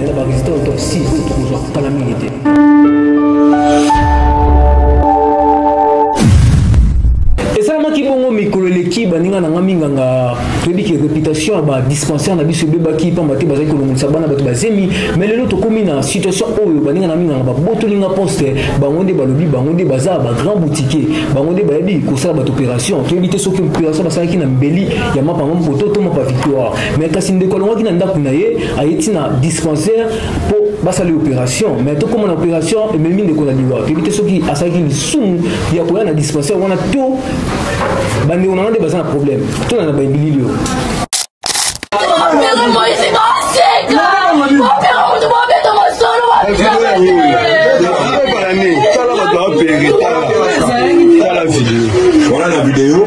Nela ba visita autopsie oyo tokozwa kala mingi te. esalamaki bongo mikolo eleki baninga na ngai minganga toyebi ke réputation ya badispensaire na biso ebebaki mpamba te bazali kolongolisa bana bato bazemi mai lelo tokómi na situation oyo baninga na minganga babotoli nga poste bango nde balobi bango nde baza bagrand boutiquier bango nde bayebi kosala bato opération toyebi te soki opération basalaki na mbeli ya mapa mampoto to mapa victoire mai kasi ndeko alongaki na ndako na ye aye ti na dispensaire mpo basali opération mais tokoma na opération ememi ndeko na liwa toyebi te soki asalaki lisumu ya koya na dispensaire wana to bandeko na nga nde baza na problème tona na babilili oyo Voilà la vidéo.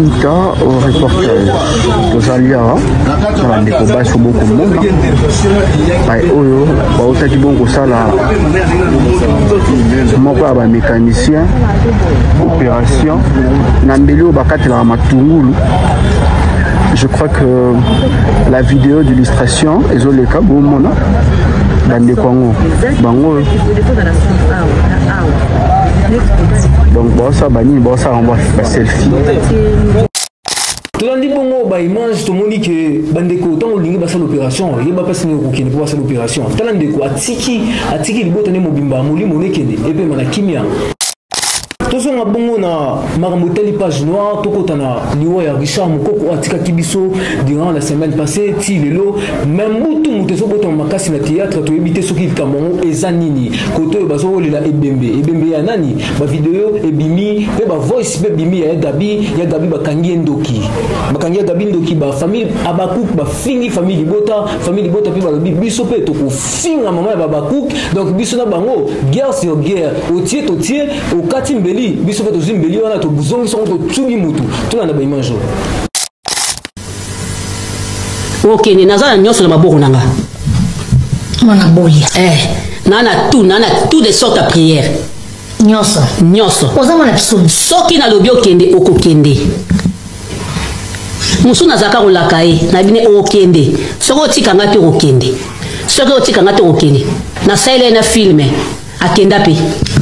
Ita au reportage tozali awa na bandeko basi oyo bokomona bai oyo bautaki bongo kosala moko ya bamécanicien opération na mbeli oyo bakatelaka matungulu je crois que la vidéo d'illustration ezoleka bomona bandeko yango bango donc baosala banini baosala yango baselfie tolandi bongo baimage tomoni ke bandeko ntango olingi basala opération yeba mpasi nini okokende mpo basala opération tala ndeko atiki atiki libota nde mobimba molimo nekende epema na kimia tozonga bongo na makambo etali page noire tokota na liwa ya richard mokoko oyo atikaki biso durant la semaine passée ti lelo me mbutu moto ezobotama makasi na théâtre toyebi te soki likambo yango eza nini kote oyo bazokolela ebembe ebembe ya nani bavideo ebimi mpe bavoice mpe ebimi ya gabi ya gabi bakangi ye ndoki bakangi ya gabi ndoki bafamille abakuk bafingi famille libota famille libota mpe balobi biso mpe tokofu singa mama ya babakuk donc biso na bango guerre sur guerre otie totie okati mbeli biso mpe tozwi mbeli wana tozongisi yango totubi motu tuna na baimanjo okende naza na nyonso na maboko na nga mwana boya eh, naa na tout naa na tout de sorte ya prière nyonso nyonso oza mwana kisoni soki nalobi okende okokende mosusu nazalaka kolaka ye na bine okokende soki otika ngai te okokende soki otika ngai te okokende nasalela ye na filme akenda mpe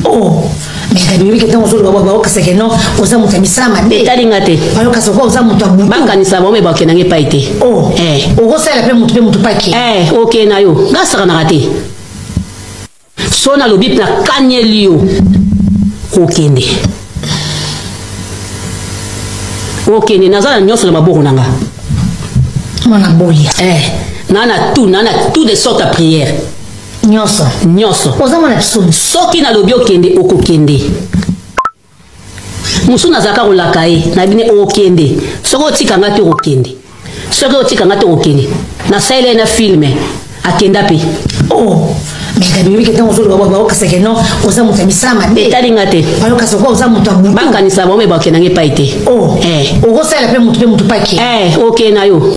oh. mekaniyoki ntango ozoloba bwa baokisa ke non oza moto ya misala mabe etali nga te bayokasa okoa oza moto ya butu bakanisa bango me bakenda nge pai te oh. eh. okosalela mpe moto mpe moto paki eh, okenda yo ngasakanaka te so nalobi mpe nakanieli yo kokende okende naza na nyonso na maboko na nga mwana boya eh, na na tout na na tout de sorte ya prière nyonso nyonso oza mwana biso soki nalobi okende okokende mosusu nazalaka kolaka ye na bine okende soki otika nga te okokende soki otika nga te okokende nasalela ye na filme akenda mpe oh. mekabimiki ntango ozoloba bayokisa ke non oza moto ya misala mabe etali nga te bayokisa kwa oza moto ya butu bakanisa bango me bakenda ngai epai te oh. eh. okosala mpe moto mpe moto pake eh, okende na yo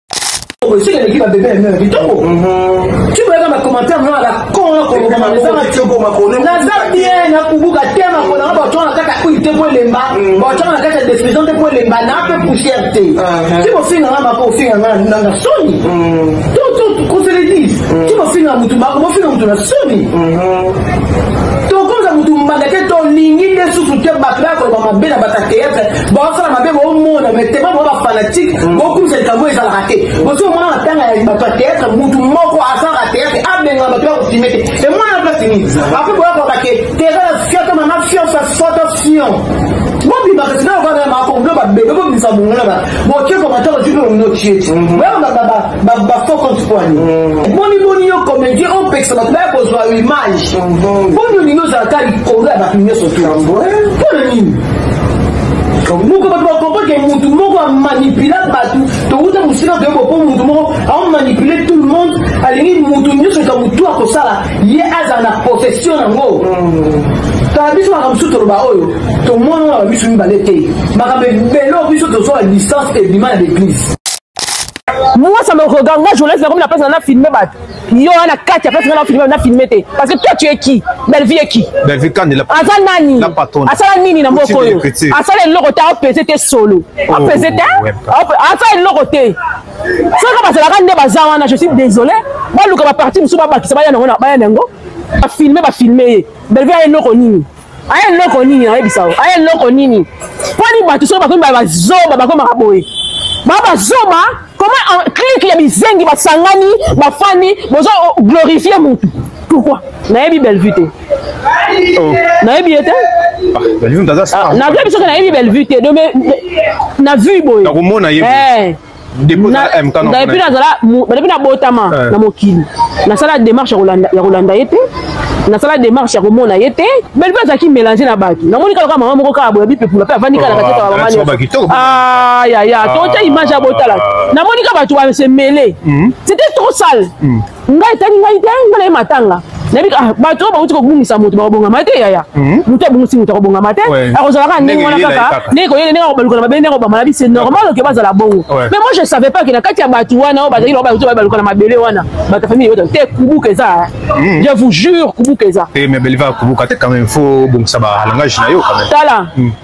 naza bien nakubuka te makolo yango bacwana kaka huile te po elemba bacwana na kati ya defusion te po elemba na mpe poussière te ti bofinga nga mako ofinga nga nanga soni koseledis ti bofinga motu mako bofinga motu na soni tokomza motu mbanda te tolingi nde susu te bato bakoloba mabe na bata théâtre baosala mabe bomona me tema boa bafanatike mm. bokumisa likambo ezalaka te bosi omona matanga ya bato ya teatre mutu moko asalaka teatre abenga bato ya kofime te emwana place nini apre boyakoka ke teza na fioto mama fiosa foto fion bobimaka sina okaka makomlo babebe bobimisa bongola ba boke komata otipe omino tieti bafo compte poani boni boni yo comédien opekisa bato baya kozwa image boni olingi ozalaka likolo ya bato nyonso tu mpo na nini moko bato bakomprendre ke motu moko amanipula bato towuta mosika toyeba mpo motu moko aomanipule tout le monde alingi motu nyonso eka motu akosala ye azala na possession yango kala biso makambo mosusu toloba oyo tomona na bamiso mibale te makambo ebele oyo biso tozwa licence ebima na baeglise Moi, ça me regarde. Moi, journaliste, comme la place, on a filmé. Bah. Yo, on a quatre, la place, on a filmé, on a filmé. Parce que toi, tu es qui Bellevue est qui Bellevue, quand il a pas. Asa Nani. La patronne. Asa Nini, na moko. Asa le logo, t'as pesé tes solo. Oh, a pesé tes. Asa le logo, t'es. Soka bazalaka nde baza wana je suis désolé baluka baparti mosusu babakisa baya nango na baya nango bafilme bafilme ye belvie aye noko nini aya eloko nini nayebisa yo aya eloko nini mponi bato soki bakomi bazoba bakomaka boye ba bazoba koma clike ya bizengi basangani bafani bozo glorifie motu pourquoi nayebi bellevue te oh. nayebi ye te ah, ah, nayebi soki nayebi bellevue te na vue boye nakomona ye eh. depuis nazala depuis nabotama eh. na mokili nasala démarche ya kolanda ye te nasala démarche ya komona ye te belle vue azalaki mélange na bato namoni kaka mama moko kaka boya bipepula mpe avandi kaka na kati ya bamama yaya totya image ya botala namoni kaka bato base mêle c'était trop sale hmm. ngai etali ngai te mbala ye matanga nayebi ah, bato oyo bauti kobungisa moto bakobongama te yaya mhm. moto abungisi moto akobongama te akozala kaka ndenge wana kaka ndenge koyele ndenge akobaluka na mabe ndenge akobama na bise normal oke bazala bongo mais moi je savais pas ke na kati ya bato wana oyo bazali loba baluka na mabele wana bato ya famille te kubuka eza ah. mhm. je vous jure kubuka eza eh, mais beliva kubuka te quand même faut bongisa ba langage na yo quand même tala mhm.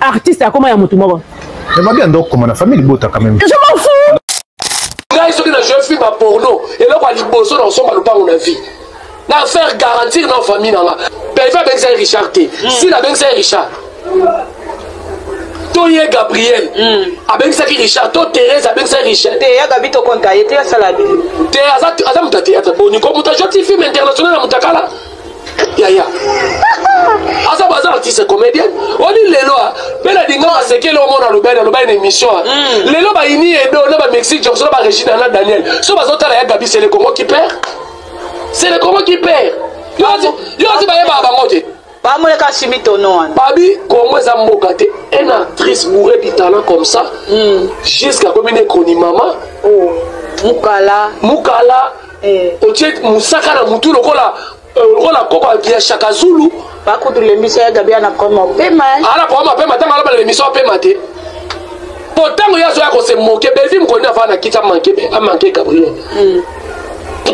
artiste akoma ya mutu moko mais mabi ando okoma na famille libota quand même je m'en fous ngai soki na jeu film ya porno eloko ya liboso na kosomba lopango na vie na faire garantir na famille na nga pelve abengisa ye richard te hmm. sila abengisa ye richard to ye gabriel hmm. abengisaki richard to therese abengisaki richard te ya gabi tokonta ye te asala te aza moto ya théâtre boni ko moto ajoti film international ya motakala yaya aza baza artiste comédienne oli lelo mpe na dinga masekele omona alobi ani alobi ani na émission hmm. lelo bayini edo na bamexique jackson na baregina na daniel so bazotala ya gabi c'est le congo qui perd c'est le congo qui perd yo ozi bayebaka bango te bamoleka simi tono wana babi congo eza mboka te un actrice bourre du talent comme ça hmm. jusqu'à komi ne chroni mama oh. mukala mukala hmm. otie mosaka na mutu lokola euh, lokola koko ya shaka zulu bakutu lembisa ya gabi ana koma opema eh. ana koma opema ntango alobala lembisa opema te mpo ntango ye azoya kose moke belvi mokoni afaa na kiti amanke gabriel hmm.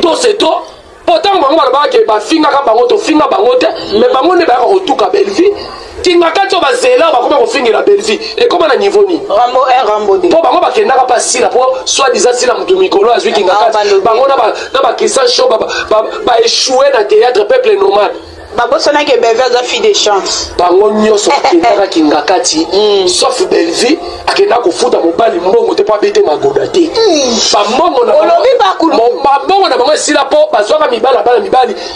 to se to mpo ntango bango balobaka ke bafingaka bango tofinga bango te me bango nde bayaka kotuka belvi kingakati oyo bazela bakoma kofingela belvi ekoma na niveau nini rambo 1 rambo 2 mpo bango bakendaka mpe asila mpo soit disant sila motu mikolo azwi kingakati ah, bango na bakristian show baechoue na théâtre peuple nomade babosanaki belvi aza fille de chance bango nyonso bakendaka kingakati hmm. sauf belvi akenda kofuta mobali mbongo te mpo abete magoda te hmm. bambongo na bango esila mpo bazwaka mibali abala mibali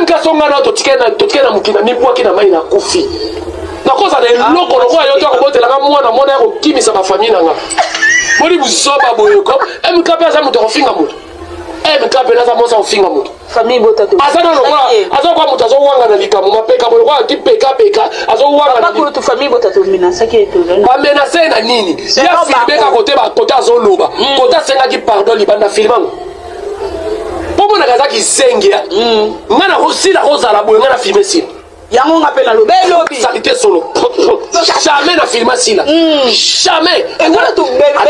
mk songa na totikali na totikali na mokili na mibwaki na mai na kufi nakoza na eloko lokola yo to akobotelaka mwana mwana ya kokimisa bafamille na nga boni buzoba boyoko mk mpe aza moto akofinga moto mk mpe naza mosa kofinga moto aza na lokola aza lokola moto azowanga na likambo mapeka boye lokola ti pekapeka azowangabamenase na nini ya filme ka kote bakote azoloba kote asengaki pardon libanda filme yango mpo monaka aza kizengi ya mm. ngai nakosila kozala boye ngai na filme sila yango nga mpe nalobi elobi salite solo jamais na filme asila mm. jamais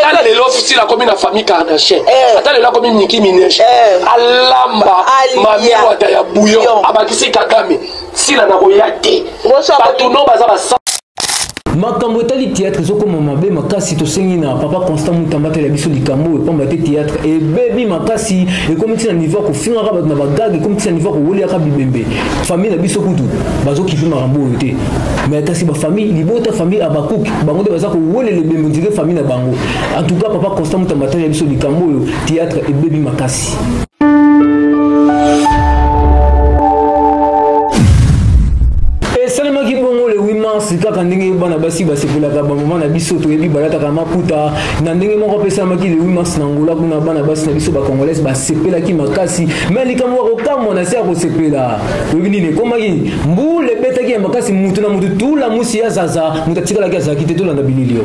ata lelo sila akomi na famille kardachien eh. ata lelo akomi niki mineje eh. alamba mamiwata ya bouillon abakisi kagame sila nakoya te bato no baza basa makambo etali théâtre ezokoma mabe makasi tosengi na papa constant mutamba atala biso likambo oyo mpamba te théâtre ebebi makasi ekomi ntina niveau ya kofingaka bato na bagage ekomi ntina niveau ya kowoliaka bibembe famille na biso kutu bazokipe makambo oyo te mais kasi bafamille libota famille abakuk bango nde baza kowolela ebembe ondire famille na bango en tout cas papa constant mutamba atala biso likambo oyo théâtre ebebi makasi esalemaki bongo le 8 mars kaka ndenge bana basi basepelaka bamama na biso toyebi balataka maputa na ndenge moko mpe esalemaki le 8 mars na ngola kuna bana basi na biso bacongolaise basepelaki makasi me likambo ya kokamwa na se ya kosepela oyebi nini ekomaki mbula ebetaki ya makasi motu na motu tula musi ya zaza moto atikalaki azalaki te tolanda bilili yo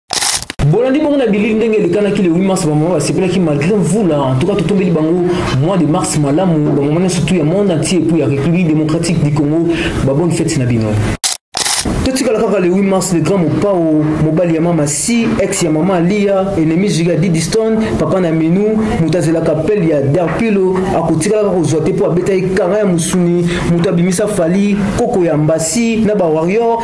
bolandi bongo na bilili ndenge elekanaki le 8 mars bamama basepelaki malgré mvula en tout cas totombeli bango mois de mars malamu bamama nyonso tu ya monde entier mpo ya république démocratique du congo babonne fete na bino totikala kaka le 8 mars le grand mopao mobali ya mama si ex ya mama alia enemi jiga didiston papa na minu moto azelaka pele ya derpilo akotikala kaka kozwa te mpo abetaki kanga ya mosuni moto abimisa fali koko ya mbasi na bawarrior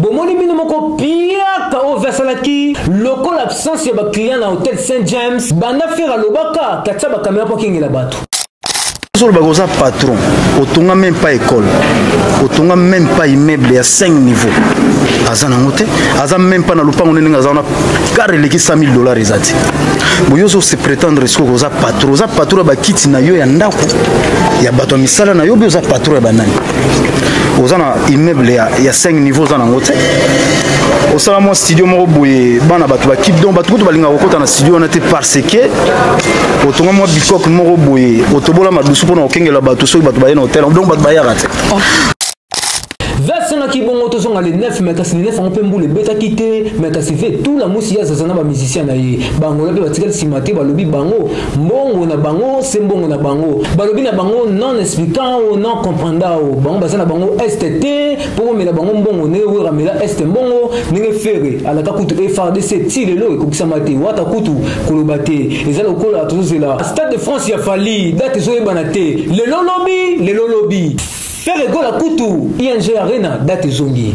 bomoni bino moko piaka oyo ve asalaki lokola absence ya baclient na hotel saint james banda fere alobaka katia bakamera mpo akengela bato ozoloba koza patron otonga meme pas école otonga meme pas immeuble ya 5 niveau aza nango te aza meme pas na lopango nde ndenge aza wana kare eleki 100 000 dollars eza te boye ozo se prétendre sikoyo koza patron oza patron ya bakiti na yo ya ndako ya bato ya misala na yo bi oza patron ya banani oza na immeuble ya, ya 5 niveau oza nango te osala mwa studio moko boye bana bato bakip donc bato kutu balingaka kokota na studio wana te parce que otonga mwa bikok moko boye otobola madusu mpona kokengela bato soki bato baye na hotel donc bato bayaka te asengaki bongo tozonga le 9 me kasi le 9 yango mpe mbula ebetaki te me kasi ve tula mwisi ye azaza na bamusicien na ye bangola mpe batikali nsima te balobi bango mbongo na bango se mbongo na bango balobi na bango non expliquant o non comprendant o bango baza na bango est te mpo komela bango mbongo ndenge wera mela est mbongo ndenge fere alaka kutu efrdc ti lelo ekokisama te wata kutu koloba te eza lokola tozozela stade de france ya fali date ezoyebana te lelo lobi lelo lobi fere gola kutu ing arena date ezongi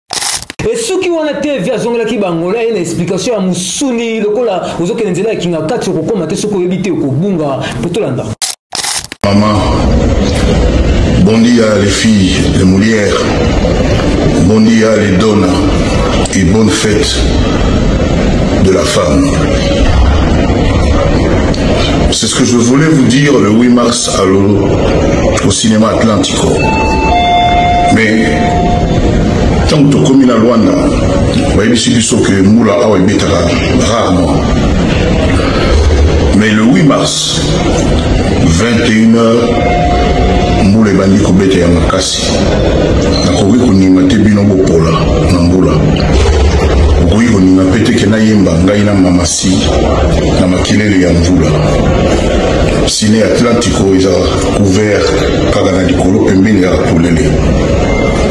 esuki wana te vi azongelaki bangola ye na explication ya mosuni lokola ozokende nzela ya kinga kati okokoma te soki oyebi te okobunga mpe tolanda mama bondia les filles de molière bondia les dona et bonne fête de la femme c'est ce que je voulais vous dire le 8 mars à Lolo, au cinéma Atlantique. mais ntango tokomi na lwanda bayebisi biso ke mbula awa ebetaka rarement mais le 8 mars 21 heures mbula ebandi kobeta ya makasi nakoki konima te bino bopola na mbula okoki konima mpe teke nayemba ngai na mamasi na makelele ya mvula sine atlantico eza couvert kaka na likolo pembeni kaka polele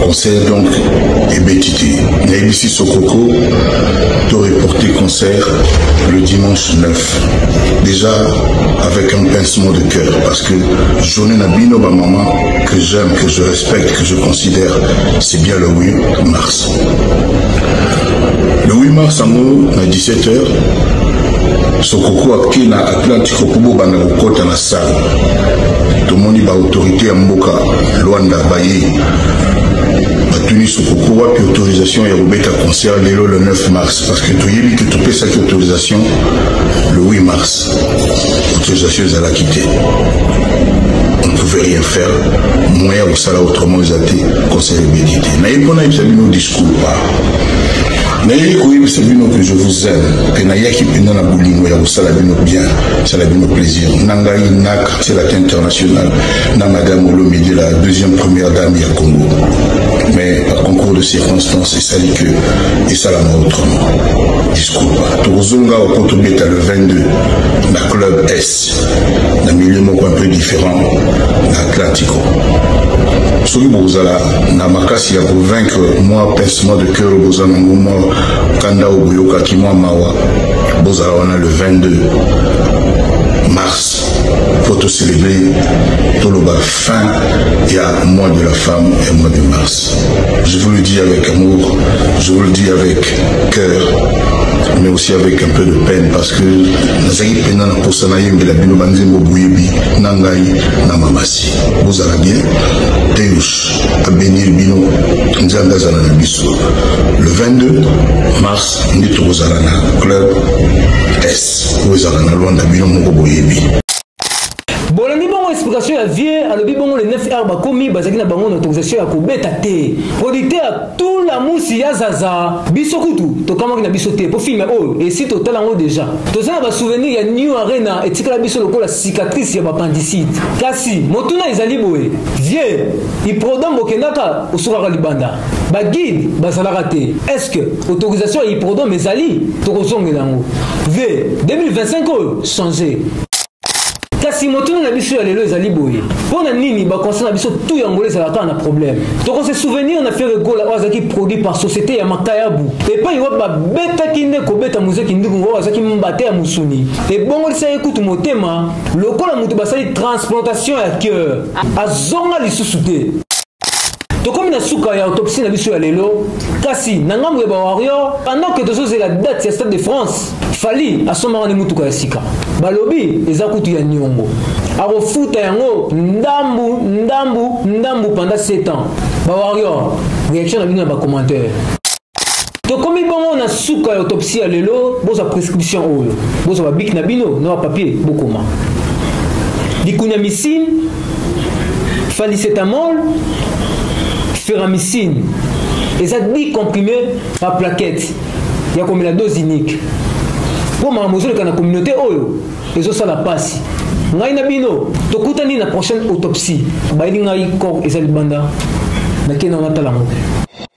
concert donc ebeti te nayebisi sokoko to reporte concert le dimanche 9 déjà avec un pincement de cœur parce que journée na bino bamama que j'aime que je respecte que je considère c'est bien le 8 mars le 8 mars yango na 17 heures sokoko ake na atlantique mpo bobanda kokɔta na Salle. Tomoni ba autorité ya mboka Luanda baye batuni sokoko wapi autorisation ya kobeta concert lelo le 9 mars parce que toyebi ke topesaki autorisation le 8 mars autorisation ezalaki te on ne pouvait rien faire moyen kosala autrement eza te concert ebeti te naye mpo nayebisa bino discours pa nayei koyebisa bino que je vous aime mpe nayaki mpenza na bolingo ya kosala bino bien sala bino plaisir na ngai nak selaka international na madame olomide la deuxième première dame ya congo mais par concours de circonstances esali que esalama autrement discours tokozonga oko tobeta le 22 na club s na milieu moko un peu différent na atlantico soki bokozala na makasi ya kovaincre mwa pincement de cœur boza nango mwa kanda oyo boyokaki mwa mawa bozala wana le 22 mars mpo tocelebre toloba fin ya mois de la femme et mois de mars je vous le dis avec amour je vous le dis avec cœur mais aussi avec un peu de peine parce que nazalaki mpenza na mposa nayembela bino banzembo boyebi na ngai na mamasi bozala bien deus abenir bino nzambe azala na biso le 22 mars nde tokozala na club s oyo ezala na lwanda bino moko boyebi bolandi bongo explication ya vieux alobi bongo le 9 heure bakomi bazalaki na bango na autorisation ya kobeta te producteur tula musi ya zaza biso kutu tokamwaki na biso te mpo filme oyo esi totala yango deja toza na basouvenir ya new arena etikala biso lokola cicatrice ya bapandisite kasi motuna ezali boye vieux iprodom bokendaka osukaka libanda baguide bazalaka te est ce que autorisation ya hiprodome ezali tokozongela yango v 2025 oyo change kasi motuna na biso ya lelo ezali boye mpo na nini baconse na biso tu yango ezalaka kaka na problème tokose souvenir na fere gola oyo azalaki produit par société ya makayabu epai wapi babetaki nde kobeta mozeki nduku oyo azalaki mbate ya mosuni ebongolisa ye kutu motema lokola moto basali transplantation ya cœur azonga lisusu te tokomi na suka ya autopsie na biso ya lelo kasi na ngambo ya bawarrior pendant ke tozozela date ya stade de france fali asombaka nde motuka ya sika balobi eza kutu ya niongo akofuta yango ndambu ndambu ndambu pendant 7 ans bawarrior reaction na bino na bacommentaire tokomi bongo na suka ya autopsie ya lelo bozwa prescription oyo bozwa babiki na bino na bapapier bokoma likunamicine falicetamol feramicine eza 10 comprime ba plaquette ya komela dose unique mpo makambo ezoleka na communauté oyo ezosala mpasi ngai na bino tokutani na prochaine autopsie bayeli ngai corps eza libanda nakei na wana tala moke